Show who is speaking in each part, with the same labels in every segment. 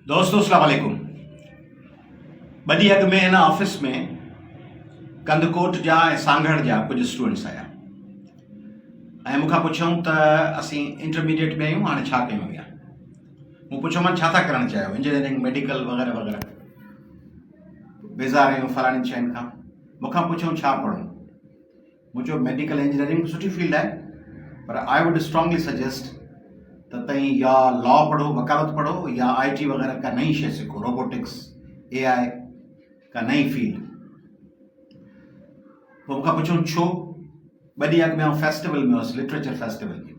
Speaker 1: دوستو السلام عليڪم ٻه ڏينهن اڳ ۾ هن آفيس ۾ ڪنڌڪوٽ جا ۽ سانگهڙ جا ڪجهه اسٽوڊنٽس آيا ۽ مون کان پڇيائون ته اسين انٽرميڊيٽ ۾ آهيون هاڻي ڇا ڪيون اڳيان مون پڇيو مان ڇا ٿا ڪرڻ چاهيو انجنيئرنگ ميڊيڪل وغيرہ وغيرہ بيزار آهيون فلاڻين شين کان مون کان پڇيائون ڇا پڙهون منهنجو ميڊيڪل انجنيئرنگ به سٺي فيلڊ آهي پر آء ووڊ اسٽرانگلي سجيسٽ ته تئين يا لا پڙهو وڪالت پڙهو يا آء ٽي وغيره ڪا نئين شيء سکو روبوٽڪس اي آء ڪا نئين فيلڊ پوء مون کان پڇيو ڇو ٻه ڏينهن اڳ ۾ آئون فيسٽيول ۾ هوس لٽريچر فيسٽيول ۾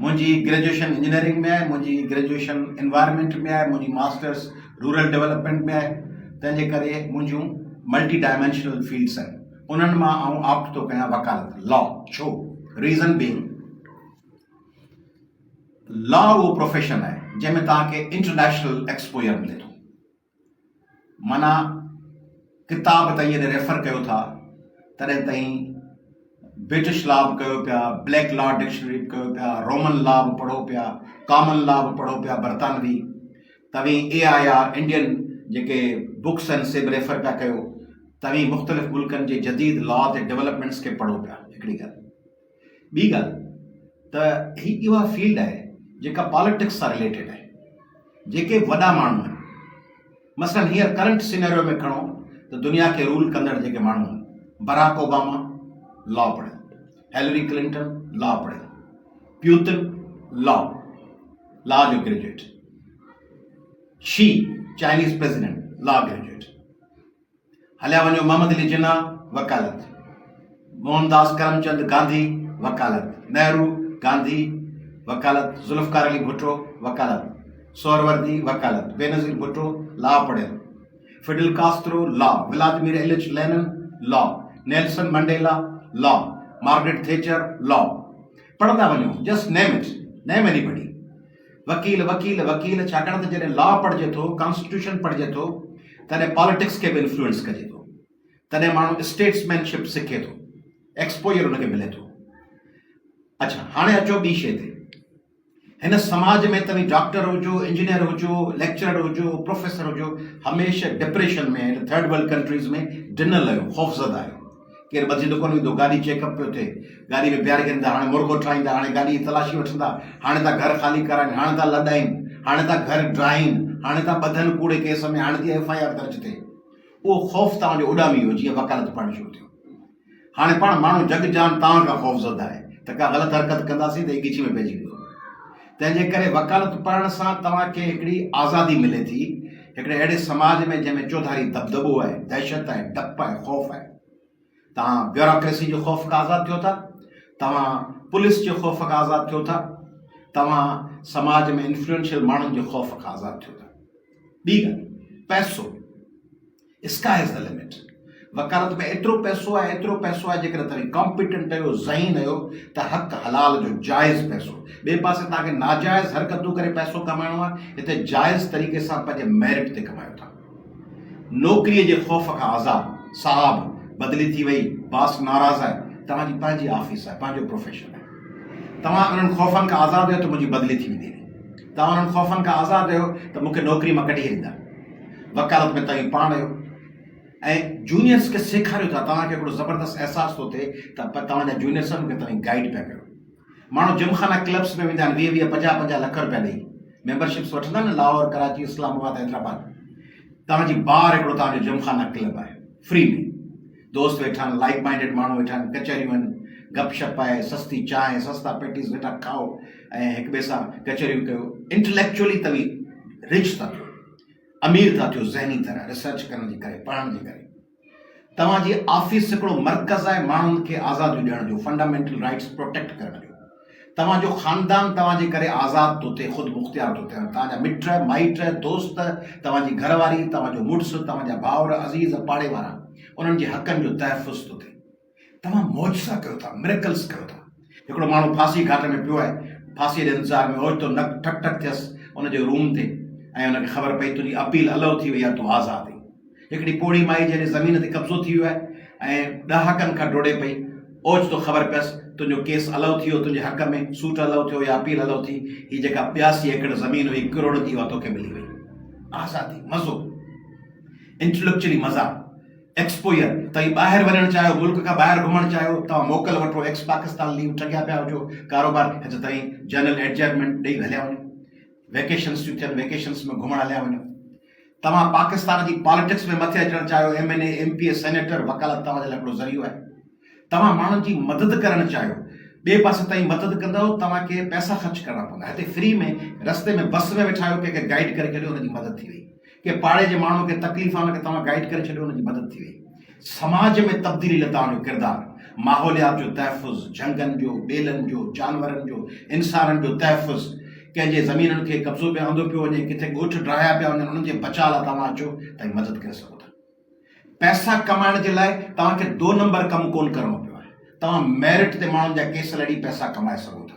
Speaker 1: منهنجي گريجوئيشن انجنيئرنگ ۾ آهي، منهنجي گريجوئيشن انوائرمينٽ ۾ آهي، منهنجي ماسٽرس رورل ڊولپمينٽ ۾ آهي، تنهن جي ڪري منهنجون ملٽي ڊائمينشنل فيلڊس آهن، انهن مان آئون آپٽ ٿو ڪيان وڪالت، Law، ڇو؟ ريزن بينگ، لا اهو پروفيشن آهي جنهن ۾ توهان کي انٽرنيشنل ايڪسپوئر ملي ٿو. معنيٰ ڪتاب ته ايئن ريفر ڪيو ٿا تڏهن تائين برٽش لا به ڪيو پيا بليڪ لا ڊڪشنري به ڪيو پيا رومن لا به پڙهو پيا ڪامن لا به پڙهو پيا برطانوي توهين اي آء آر انڊين جيڪي بڪس آهن سي به ريفر پيا ڪيو توهين مختلف ملڪن جي جديد لا تي ڊيولپمينٽس کي پڙهو پيا هڪڙي ڳالهه ٻي ڳالهه ته هي اها فيلڊ آهي جيڪا پاليٽڪس سان رليٽيڊ آهي جيڪي وڏا ماڻهو آهن مثلا هينئر ڪرنٽ سينيريو ۾ کڻو ته دنيا کي رول ڪندڙ جيڪي ماڻهو آهن براڪ اوباما لا پڙهيو هيلري ڪلنٽن لا پڙهيو پيوتن لا لا جو graduate Xi Chinese president law graduate هليا وڃو محمد علي جناح، وڪالت، موهن داس ڪرمچند گانڌي، وڪالت، نهرو، گانڌي، وڪالت، ذوالفقار علي ڀٽو، وڪالت، سهروردي، وڪالت، بينظير ڀٽو، لا پڙهيل، فڊل ڪاسترو، لا، ولادمير ايلچ لينن، لا، نيلسن منڊيلا، لا، مارگريٽ ٿيچر، لا. پڙهندا وڃو، just name it, name anybody. وڪيل وڪيل وڪيل ڇاڪاڻ ته جڏهن لا پڙهجي ٿو ڪانسٽيٽيوشن پڙهجي ٿو تڏهن پاليٽڪس کي به انفلوئنس ڪجي ٿو تڏهن ماڻهو اسٽيٽس مين شپ سکي ٿو ايڪسپوجر ان کي ملي ٿو اچھا هاڻي اچو ٻي شي تي هن سماج ۾ توهين ڊاڪٽر هجو انجنيئر هجو ليڪچرر هجو پروفيسر هجو هميشه ڊپريشن ۾ ٿرڊ ورلڊ ڪنٽريز ۾ ڊنل آهيو خوفزده آهيو ڪير ٻڌي ته ڪونه ويندو. گاڏي چيڪ اپ پيو ٿئي. گاڏي ۾ بيهاري ڪڍيندا. هاڻي مڙڳو ٺاهيندا. هاڻي گاڏي جي تلاشي وٺندا. هاڻي ٿا گهر خالي ڪرائين. هاڻي ٿا لڏائين. هاڻي ٿا گهر ڊاهين. هاڻي ٿا ٻڌن ڪوڙي ڪيس ۾. هاڻي ٿي ايف آء آر درج ٿئي. اهو خوف توهان جو اڏامي ويو جيئن وڪالت پڙهڻ شروع ٿيو. هاڻي پاڻ ماڻهو جڳ جهان توهان کان خوفزده آهي ته ڪا غلط حرڪت ڪنداسين ته هي ڳچي ۾ پئجي ويندو. تنهن جي ڪري وڪالت پڙهڻ سان توهان کي هڪڙي آزادي ملي ٿي، هڪڙي اهڙي سماج ۾ جنهن ۾ چوڌاري دٻدٻو آهي، دهشت آهي، ڊپ آهي، خوف آهي. توهان بيوراڪريسي جي خوف کان آزاد ٿيو ٿا، توهان پوليس جي خوف کان آزاد ٿيو ٿا، توهان سماج ۾ انفلوئنشل ماڻهن جي خوف کان آزاد ٿيو ٿا. ٻي ڳالهه پئسو. Sky is the limit. وڪالت ۾ ايترو پئسو آهي، ايترو پئسو آهي جيڪڏهن توهين ڪامپيٽنٽ آهيو، ذهين آهيو ته حق حلال جو جائز پئسو، ٻئي پاسي توهان کي ناجائز حرڪتون ڪري پئسو ڪمائڻو آهي، هتي جائز طريقي سان پنهنجي ميرٽ تي ڪمايو ٿا. نوڪريء جي خوف کان آزاد. صاحب! بدلي ٿي وئي، باس ناراض آهي، توهان جي پنهنجي آفيس آهي، پنهنجو پروفيشن آهي. توهان انهن خوفن کان آزاد آهيو ته منهنجي بدلي ٿي ويندي هلي. توهان انهن خوفن کان آزاد آهيو ته مون کي نوڪريء مان ڪڍي هليندا. وڪالت ۾ توهين پاڻ آهيو ۽ جونيئرس کي سيکاريو ٿا توهان کي هڪڙو زبردست احساس ٿو ٿئي ته توهان جا جونيئرس آهن ان کي توهين گائيڊ پيا ڪريو ماڻهو جم خانا ڪلبس ۾ ويندا آهن ويهه ويهه پنجاهه پنجاهه لک روپيا ڏيئي ميمبرشپس وٺندا آهن لاهور ڪراچي اسلام آباد حيدرآباد توهان جي بار هڪڙو توهان جو جم خانا ڪلب آهي فري ۾ دوست ويٺا آهن، لائيڪ مائينڊيڊ ماڻهو ويٺا آهن، ڪچهريون آهن، گپ شپ آهي، سستي چانهه، سستا پيٽيز ويٺا کائو ۽ هڪ ٻئي سان ڪچهريون ڪيو. انٽليڪچوئلي توهي رچ ٿا ٿيو، امير ٿا ٿيو ذهني طرح، ريسرچ ڪرڻ جي ڪري، پڙهڻ جي ڪري. توهان جي آفيس هڪڙو مرڪز آهي ماڻهن کي آزاديون ڏيڻ جو، فنڊامينٽل رائيٽس پروٽيڪٽ ڪرڻ جو. توهان جو خاندان توهان جي ڪري آزاد ٿو ٿئي، خود مختيار ٿو ٿيڻ. توهان جا مٽ، مائٽ، دوست، توهان جي گهر واري، توهان جو مڙس، توهان جا ڀائر، عزيز، پاڙي وارا، انهن جي حقن جو تحفظ ٿو ٿئي. توهان معجزا ڪيو ٿا، Miracles، ڪيو ٿا. هڪڙو ماڻهو ڦاسي گهاٽ ۾ پيو آهي، ڦاسيء جي انتظار ۾ اوچتو نڪ ٺڪ ٺڪ ٿيس ان جي روم تي ۽ ان کي خبر پئي تنهنجي اپيل الئو ٿي وئي آهي، تون آزاد آهين. هڪڙي پوڙهي مائي جنهن جي زمين تي قبضو ٿي ويو آهي ۽ ڏهاڪن کان ڊوڙي پئي اوچتو خبر پيس تنهنجو ڪيس الئو ٿي ويو تنهنجي حق ۾ سوٽ الئو ٿيو يا اپيل الئو ٿي هي جيڪا ٻياسي ايڪڙ زمين هئي ڪروڙن جي اها توکي ملي وئي آزادي مزو انٽليڪچلي مزا ايڪسپوئر توهين ٻاهر وڃڻ چاهيو ملڪ کان ٻاهر گهمڻ چاهيو توهان موڪل وٺو ايڪس پاڪستان ليو ٺڳيا پيا هجو ڪاروبار اچ توهين جنرل ايڊجائرمينٽ ڏئي هليا وڃو ويڪيشنس ٿيون ٿين ويڪيشنس ۾ گهمڻ هليا وڃو توهان پاڪستان جي پاليٽڪس ۾ مٿي اچڻ چاهيو M N A M P A senator وڪالت توهان جي لاء هڪڙو ذريعو آهي توهان ماڻهن جي مدد ڪرڻ چاهيو ٻئي پاسي توهين مدد ڪندؤ توهان کي پئسا خرچ ڪرڻا پوندا هتي فري ۾ رستي ۾ بس ۾ ويٺا آهيو ڪنهن کي گائيڊ ڪري ڇڏيو ان جي مدد ٿي وئي ڪنهن پاڙي جي ماڻهو کي تڪليف آهي ان کي توهان گائيڊ ڪري ڇڏيو ان جي مدد ٿي وئي سماج ۾ تبديلي لتاڻ جو ڪردار، ماحوليات جو تحفظ، جهنگن جو، ٻيلن جو، جانورن جو، انسانن جو تحفظ، ڪنهن جي زمينن کي قبضو ۾ آندو پيو وڃي، ڪٿي ڳوٺ ڊاهيا پيا وڃن، انهن جي بچاء لاء توهان اچو ته هي مدد ڪري سگهو ٿا. پئسا ڪمائڻ جي لاء توهان کي دو نمبر ڪم ڪونه ڪرڻو پيو آهي. توهان ميرٽ تي ماڻهن جا ڪيس لڙي پئسا ڪمائي سگهو ٿا.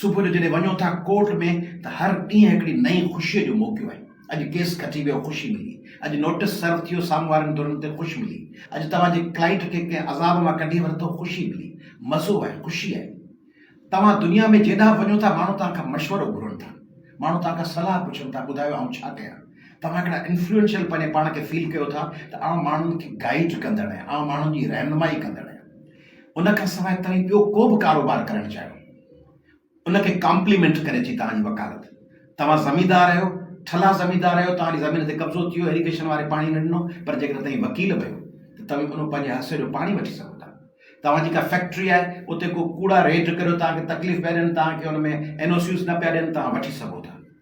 Speaker 1: صبح جو جڏهن وڃو ٿا ڪورٽ ۾ ته هر ڏينهن هڪڙي نئين خوشيء جو موقعو آهي. اڄ ڪيس کٽي ويو خوشي ملي، اڄ نوٽيس سرو ٿيو سامهون وارن ڌرن تي خوشي ملي، اڄ توهان جي ڪلائنٽ کي ڪنهن عذاب مان ڪڍي ورتو خوشي ملي، مزو آهي خوشي آهي. توهان دنيا ۾ جيڏانهن به وڃو ٿا ماڻهو توهان کان مشورو گهرن ٿا، ماڻهو توهان کان صلاح پڇن ٿا ٻڌايو آئون ڇا ڪيان؟ توهان هڪڙا انفلوئنشل پنهنجي پاڻ کي فيل ڪيو ٿا ته آئون ماڻهن کي گائيڊ ڪندڙ آهيان، آئون ماڻهن جي رهنمائي ڪندڙ آهيان. ان کان سواء توهين ٻيو ڪو به ڪاروبار ڪرڻ چاهيو، ان کي ڪامپليمينٽ ڪري ٿي توهان جي وڪالت. توهان زميندار آهيو، ٺلها زميندار آهيو، توهان جي زمين تي قبضو ٿي ويو، ايريگيشن واري پاڻي نه ڏنو، پر جيڪڏهن توهين وڪيل بڻيو ته توهين انهو پنهنجي حصي جو پاڻي وٺي سگهو ٿا. توهان جي ڪا فيڪٽري آهي، اتي ڪو ڪوڙا ريڊ ڪريو، توهان کي تڪليف پيا ڏين، توهان کي ان ۾ اين او سيز نه پيا ڏين، توهان وٺي سگهو ٿا.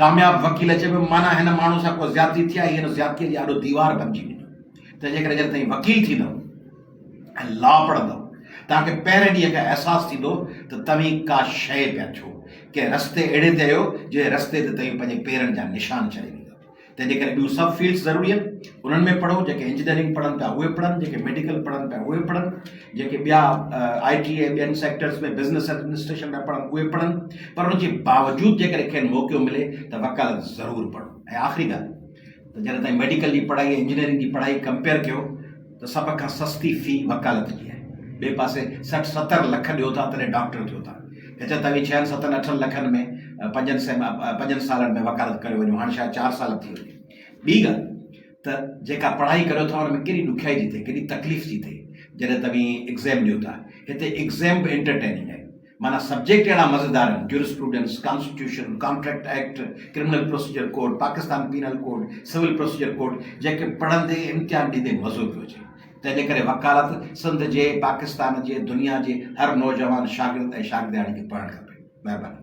Speaker 1: ڪامياب وڪيل چئي پيو معنيٰ هن ماڻهو سان ڪو زيادتي ٿي آهي، هي هن زيادتيء جي آڏو ديوار بنجي وڃو ته جيڪڏهن جڏهن توهين وڪيل ٿيندؤ ۽ لا پڙهندؤ توهان کي پهرين ڏينهن کان احساس ٿيندو ته توهين ڪا شيء پيا ٿيو، ڪنهن رستي اهڙي تي آهيو جنهن رستي تي توهين پنهنجي پيرن جا نشان ڇڏي ويندؤ. تنهنجي ڪري ٻيون سڀ فيلڊز ضروري آهن، انهن ۾ پڙهو، جيڪي انجنيئرنگ پڙهن پيا اهي پڙهن، جيڪي ميڊيڪل پڙهن پيا اهي پڙهن، جيڪي ٻيا آء ٽي ۽ ٻين سيڪٽرز ۾ بزنس ايڊمنسٽريشن ۾ پڙهن اهي پڙهن پر ان جي باوجود جيڪڏهن کين موقعو ملي ته وڪالت ضرور پڙهن ۽ آخري ڳالهه ته جڏهن تائين ميڊيڪل جي پڙهائي ۽ انجنيئرنگ جي پڙهائي ڪمپيئر ڪيو ته سڀ کان سستي في وڪالت جي آهي ٻئي پاسي سٺ ستر لک ڏيو ٿا تڏهن ڊاڪٽر ٿيو ٿا هت توهين ڇهن ستن اٺن لکن ۾ پنجن سين پنجن سالن ۾ وڪالت ڪريو وڃو هاڻ شايد چار سال ٿي وڃي ٻي ڳالهه ته جيڪا پڙهائي ڪريو ٿا ان ۾ ڪيڏي ڏکيائي ٿي ٿئي ڪيڏي تڪليف ٿي ٿئي جڏهن توهين ايگزيم ڏيو ٿا هتي ايگزيم به انٽرٽيننگ آهن معنيٰ سبجيڪٽ اهڙا مزيدار آهن jurisprudence constitution contract act criminal procedure code Pakistan penal code civil procedure code جيڪي پڙهندي امتحان ڏيندي مزو پيو اچي تنهن جي ڪري وڪالت سنڌ جي پاڪستان جي دنيا جي هر نوجوان شاگرد ۽ شاگردياڻي کي پڙهڻ کپي مهرباني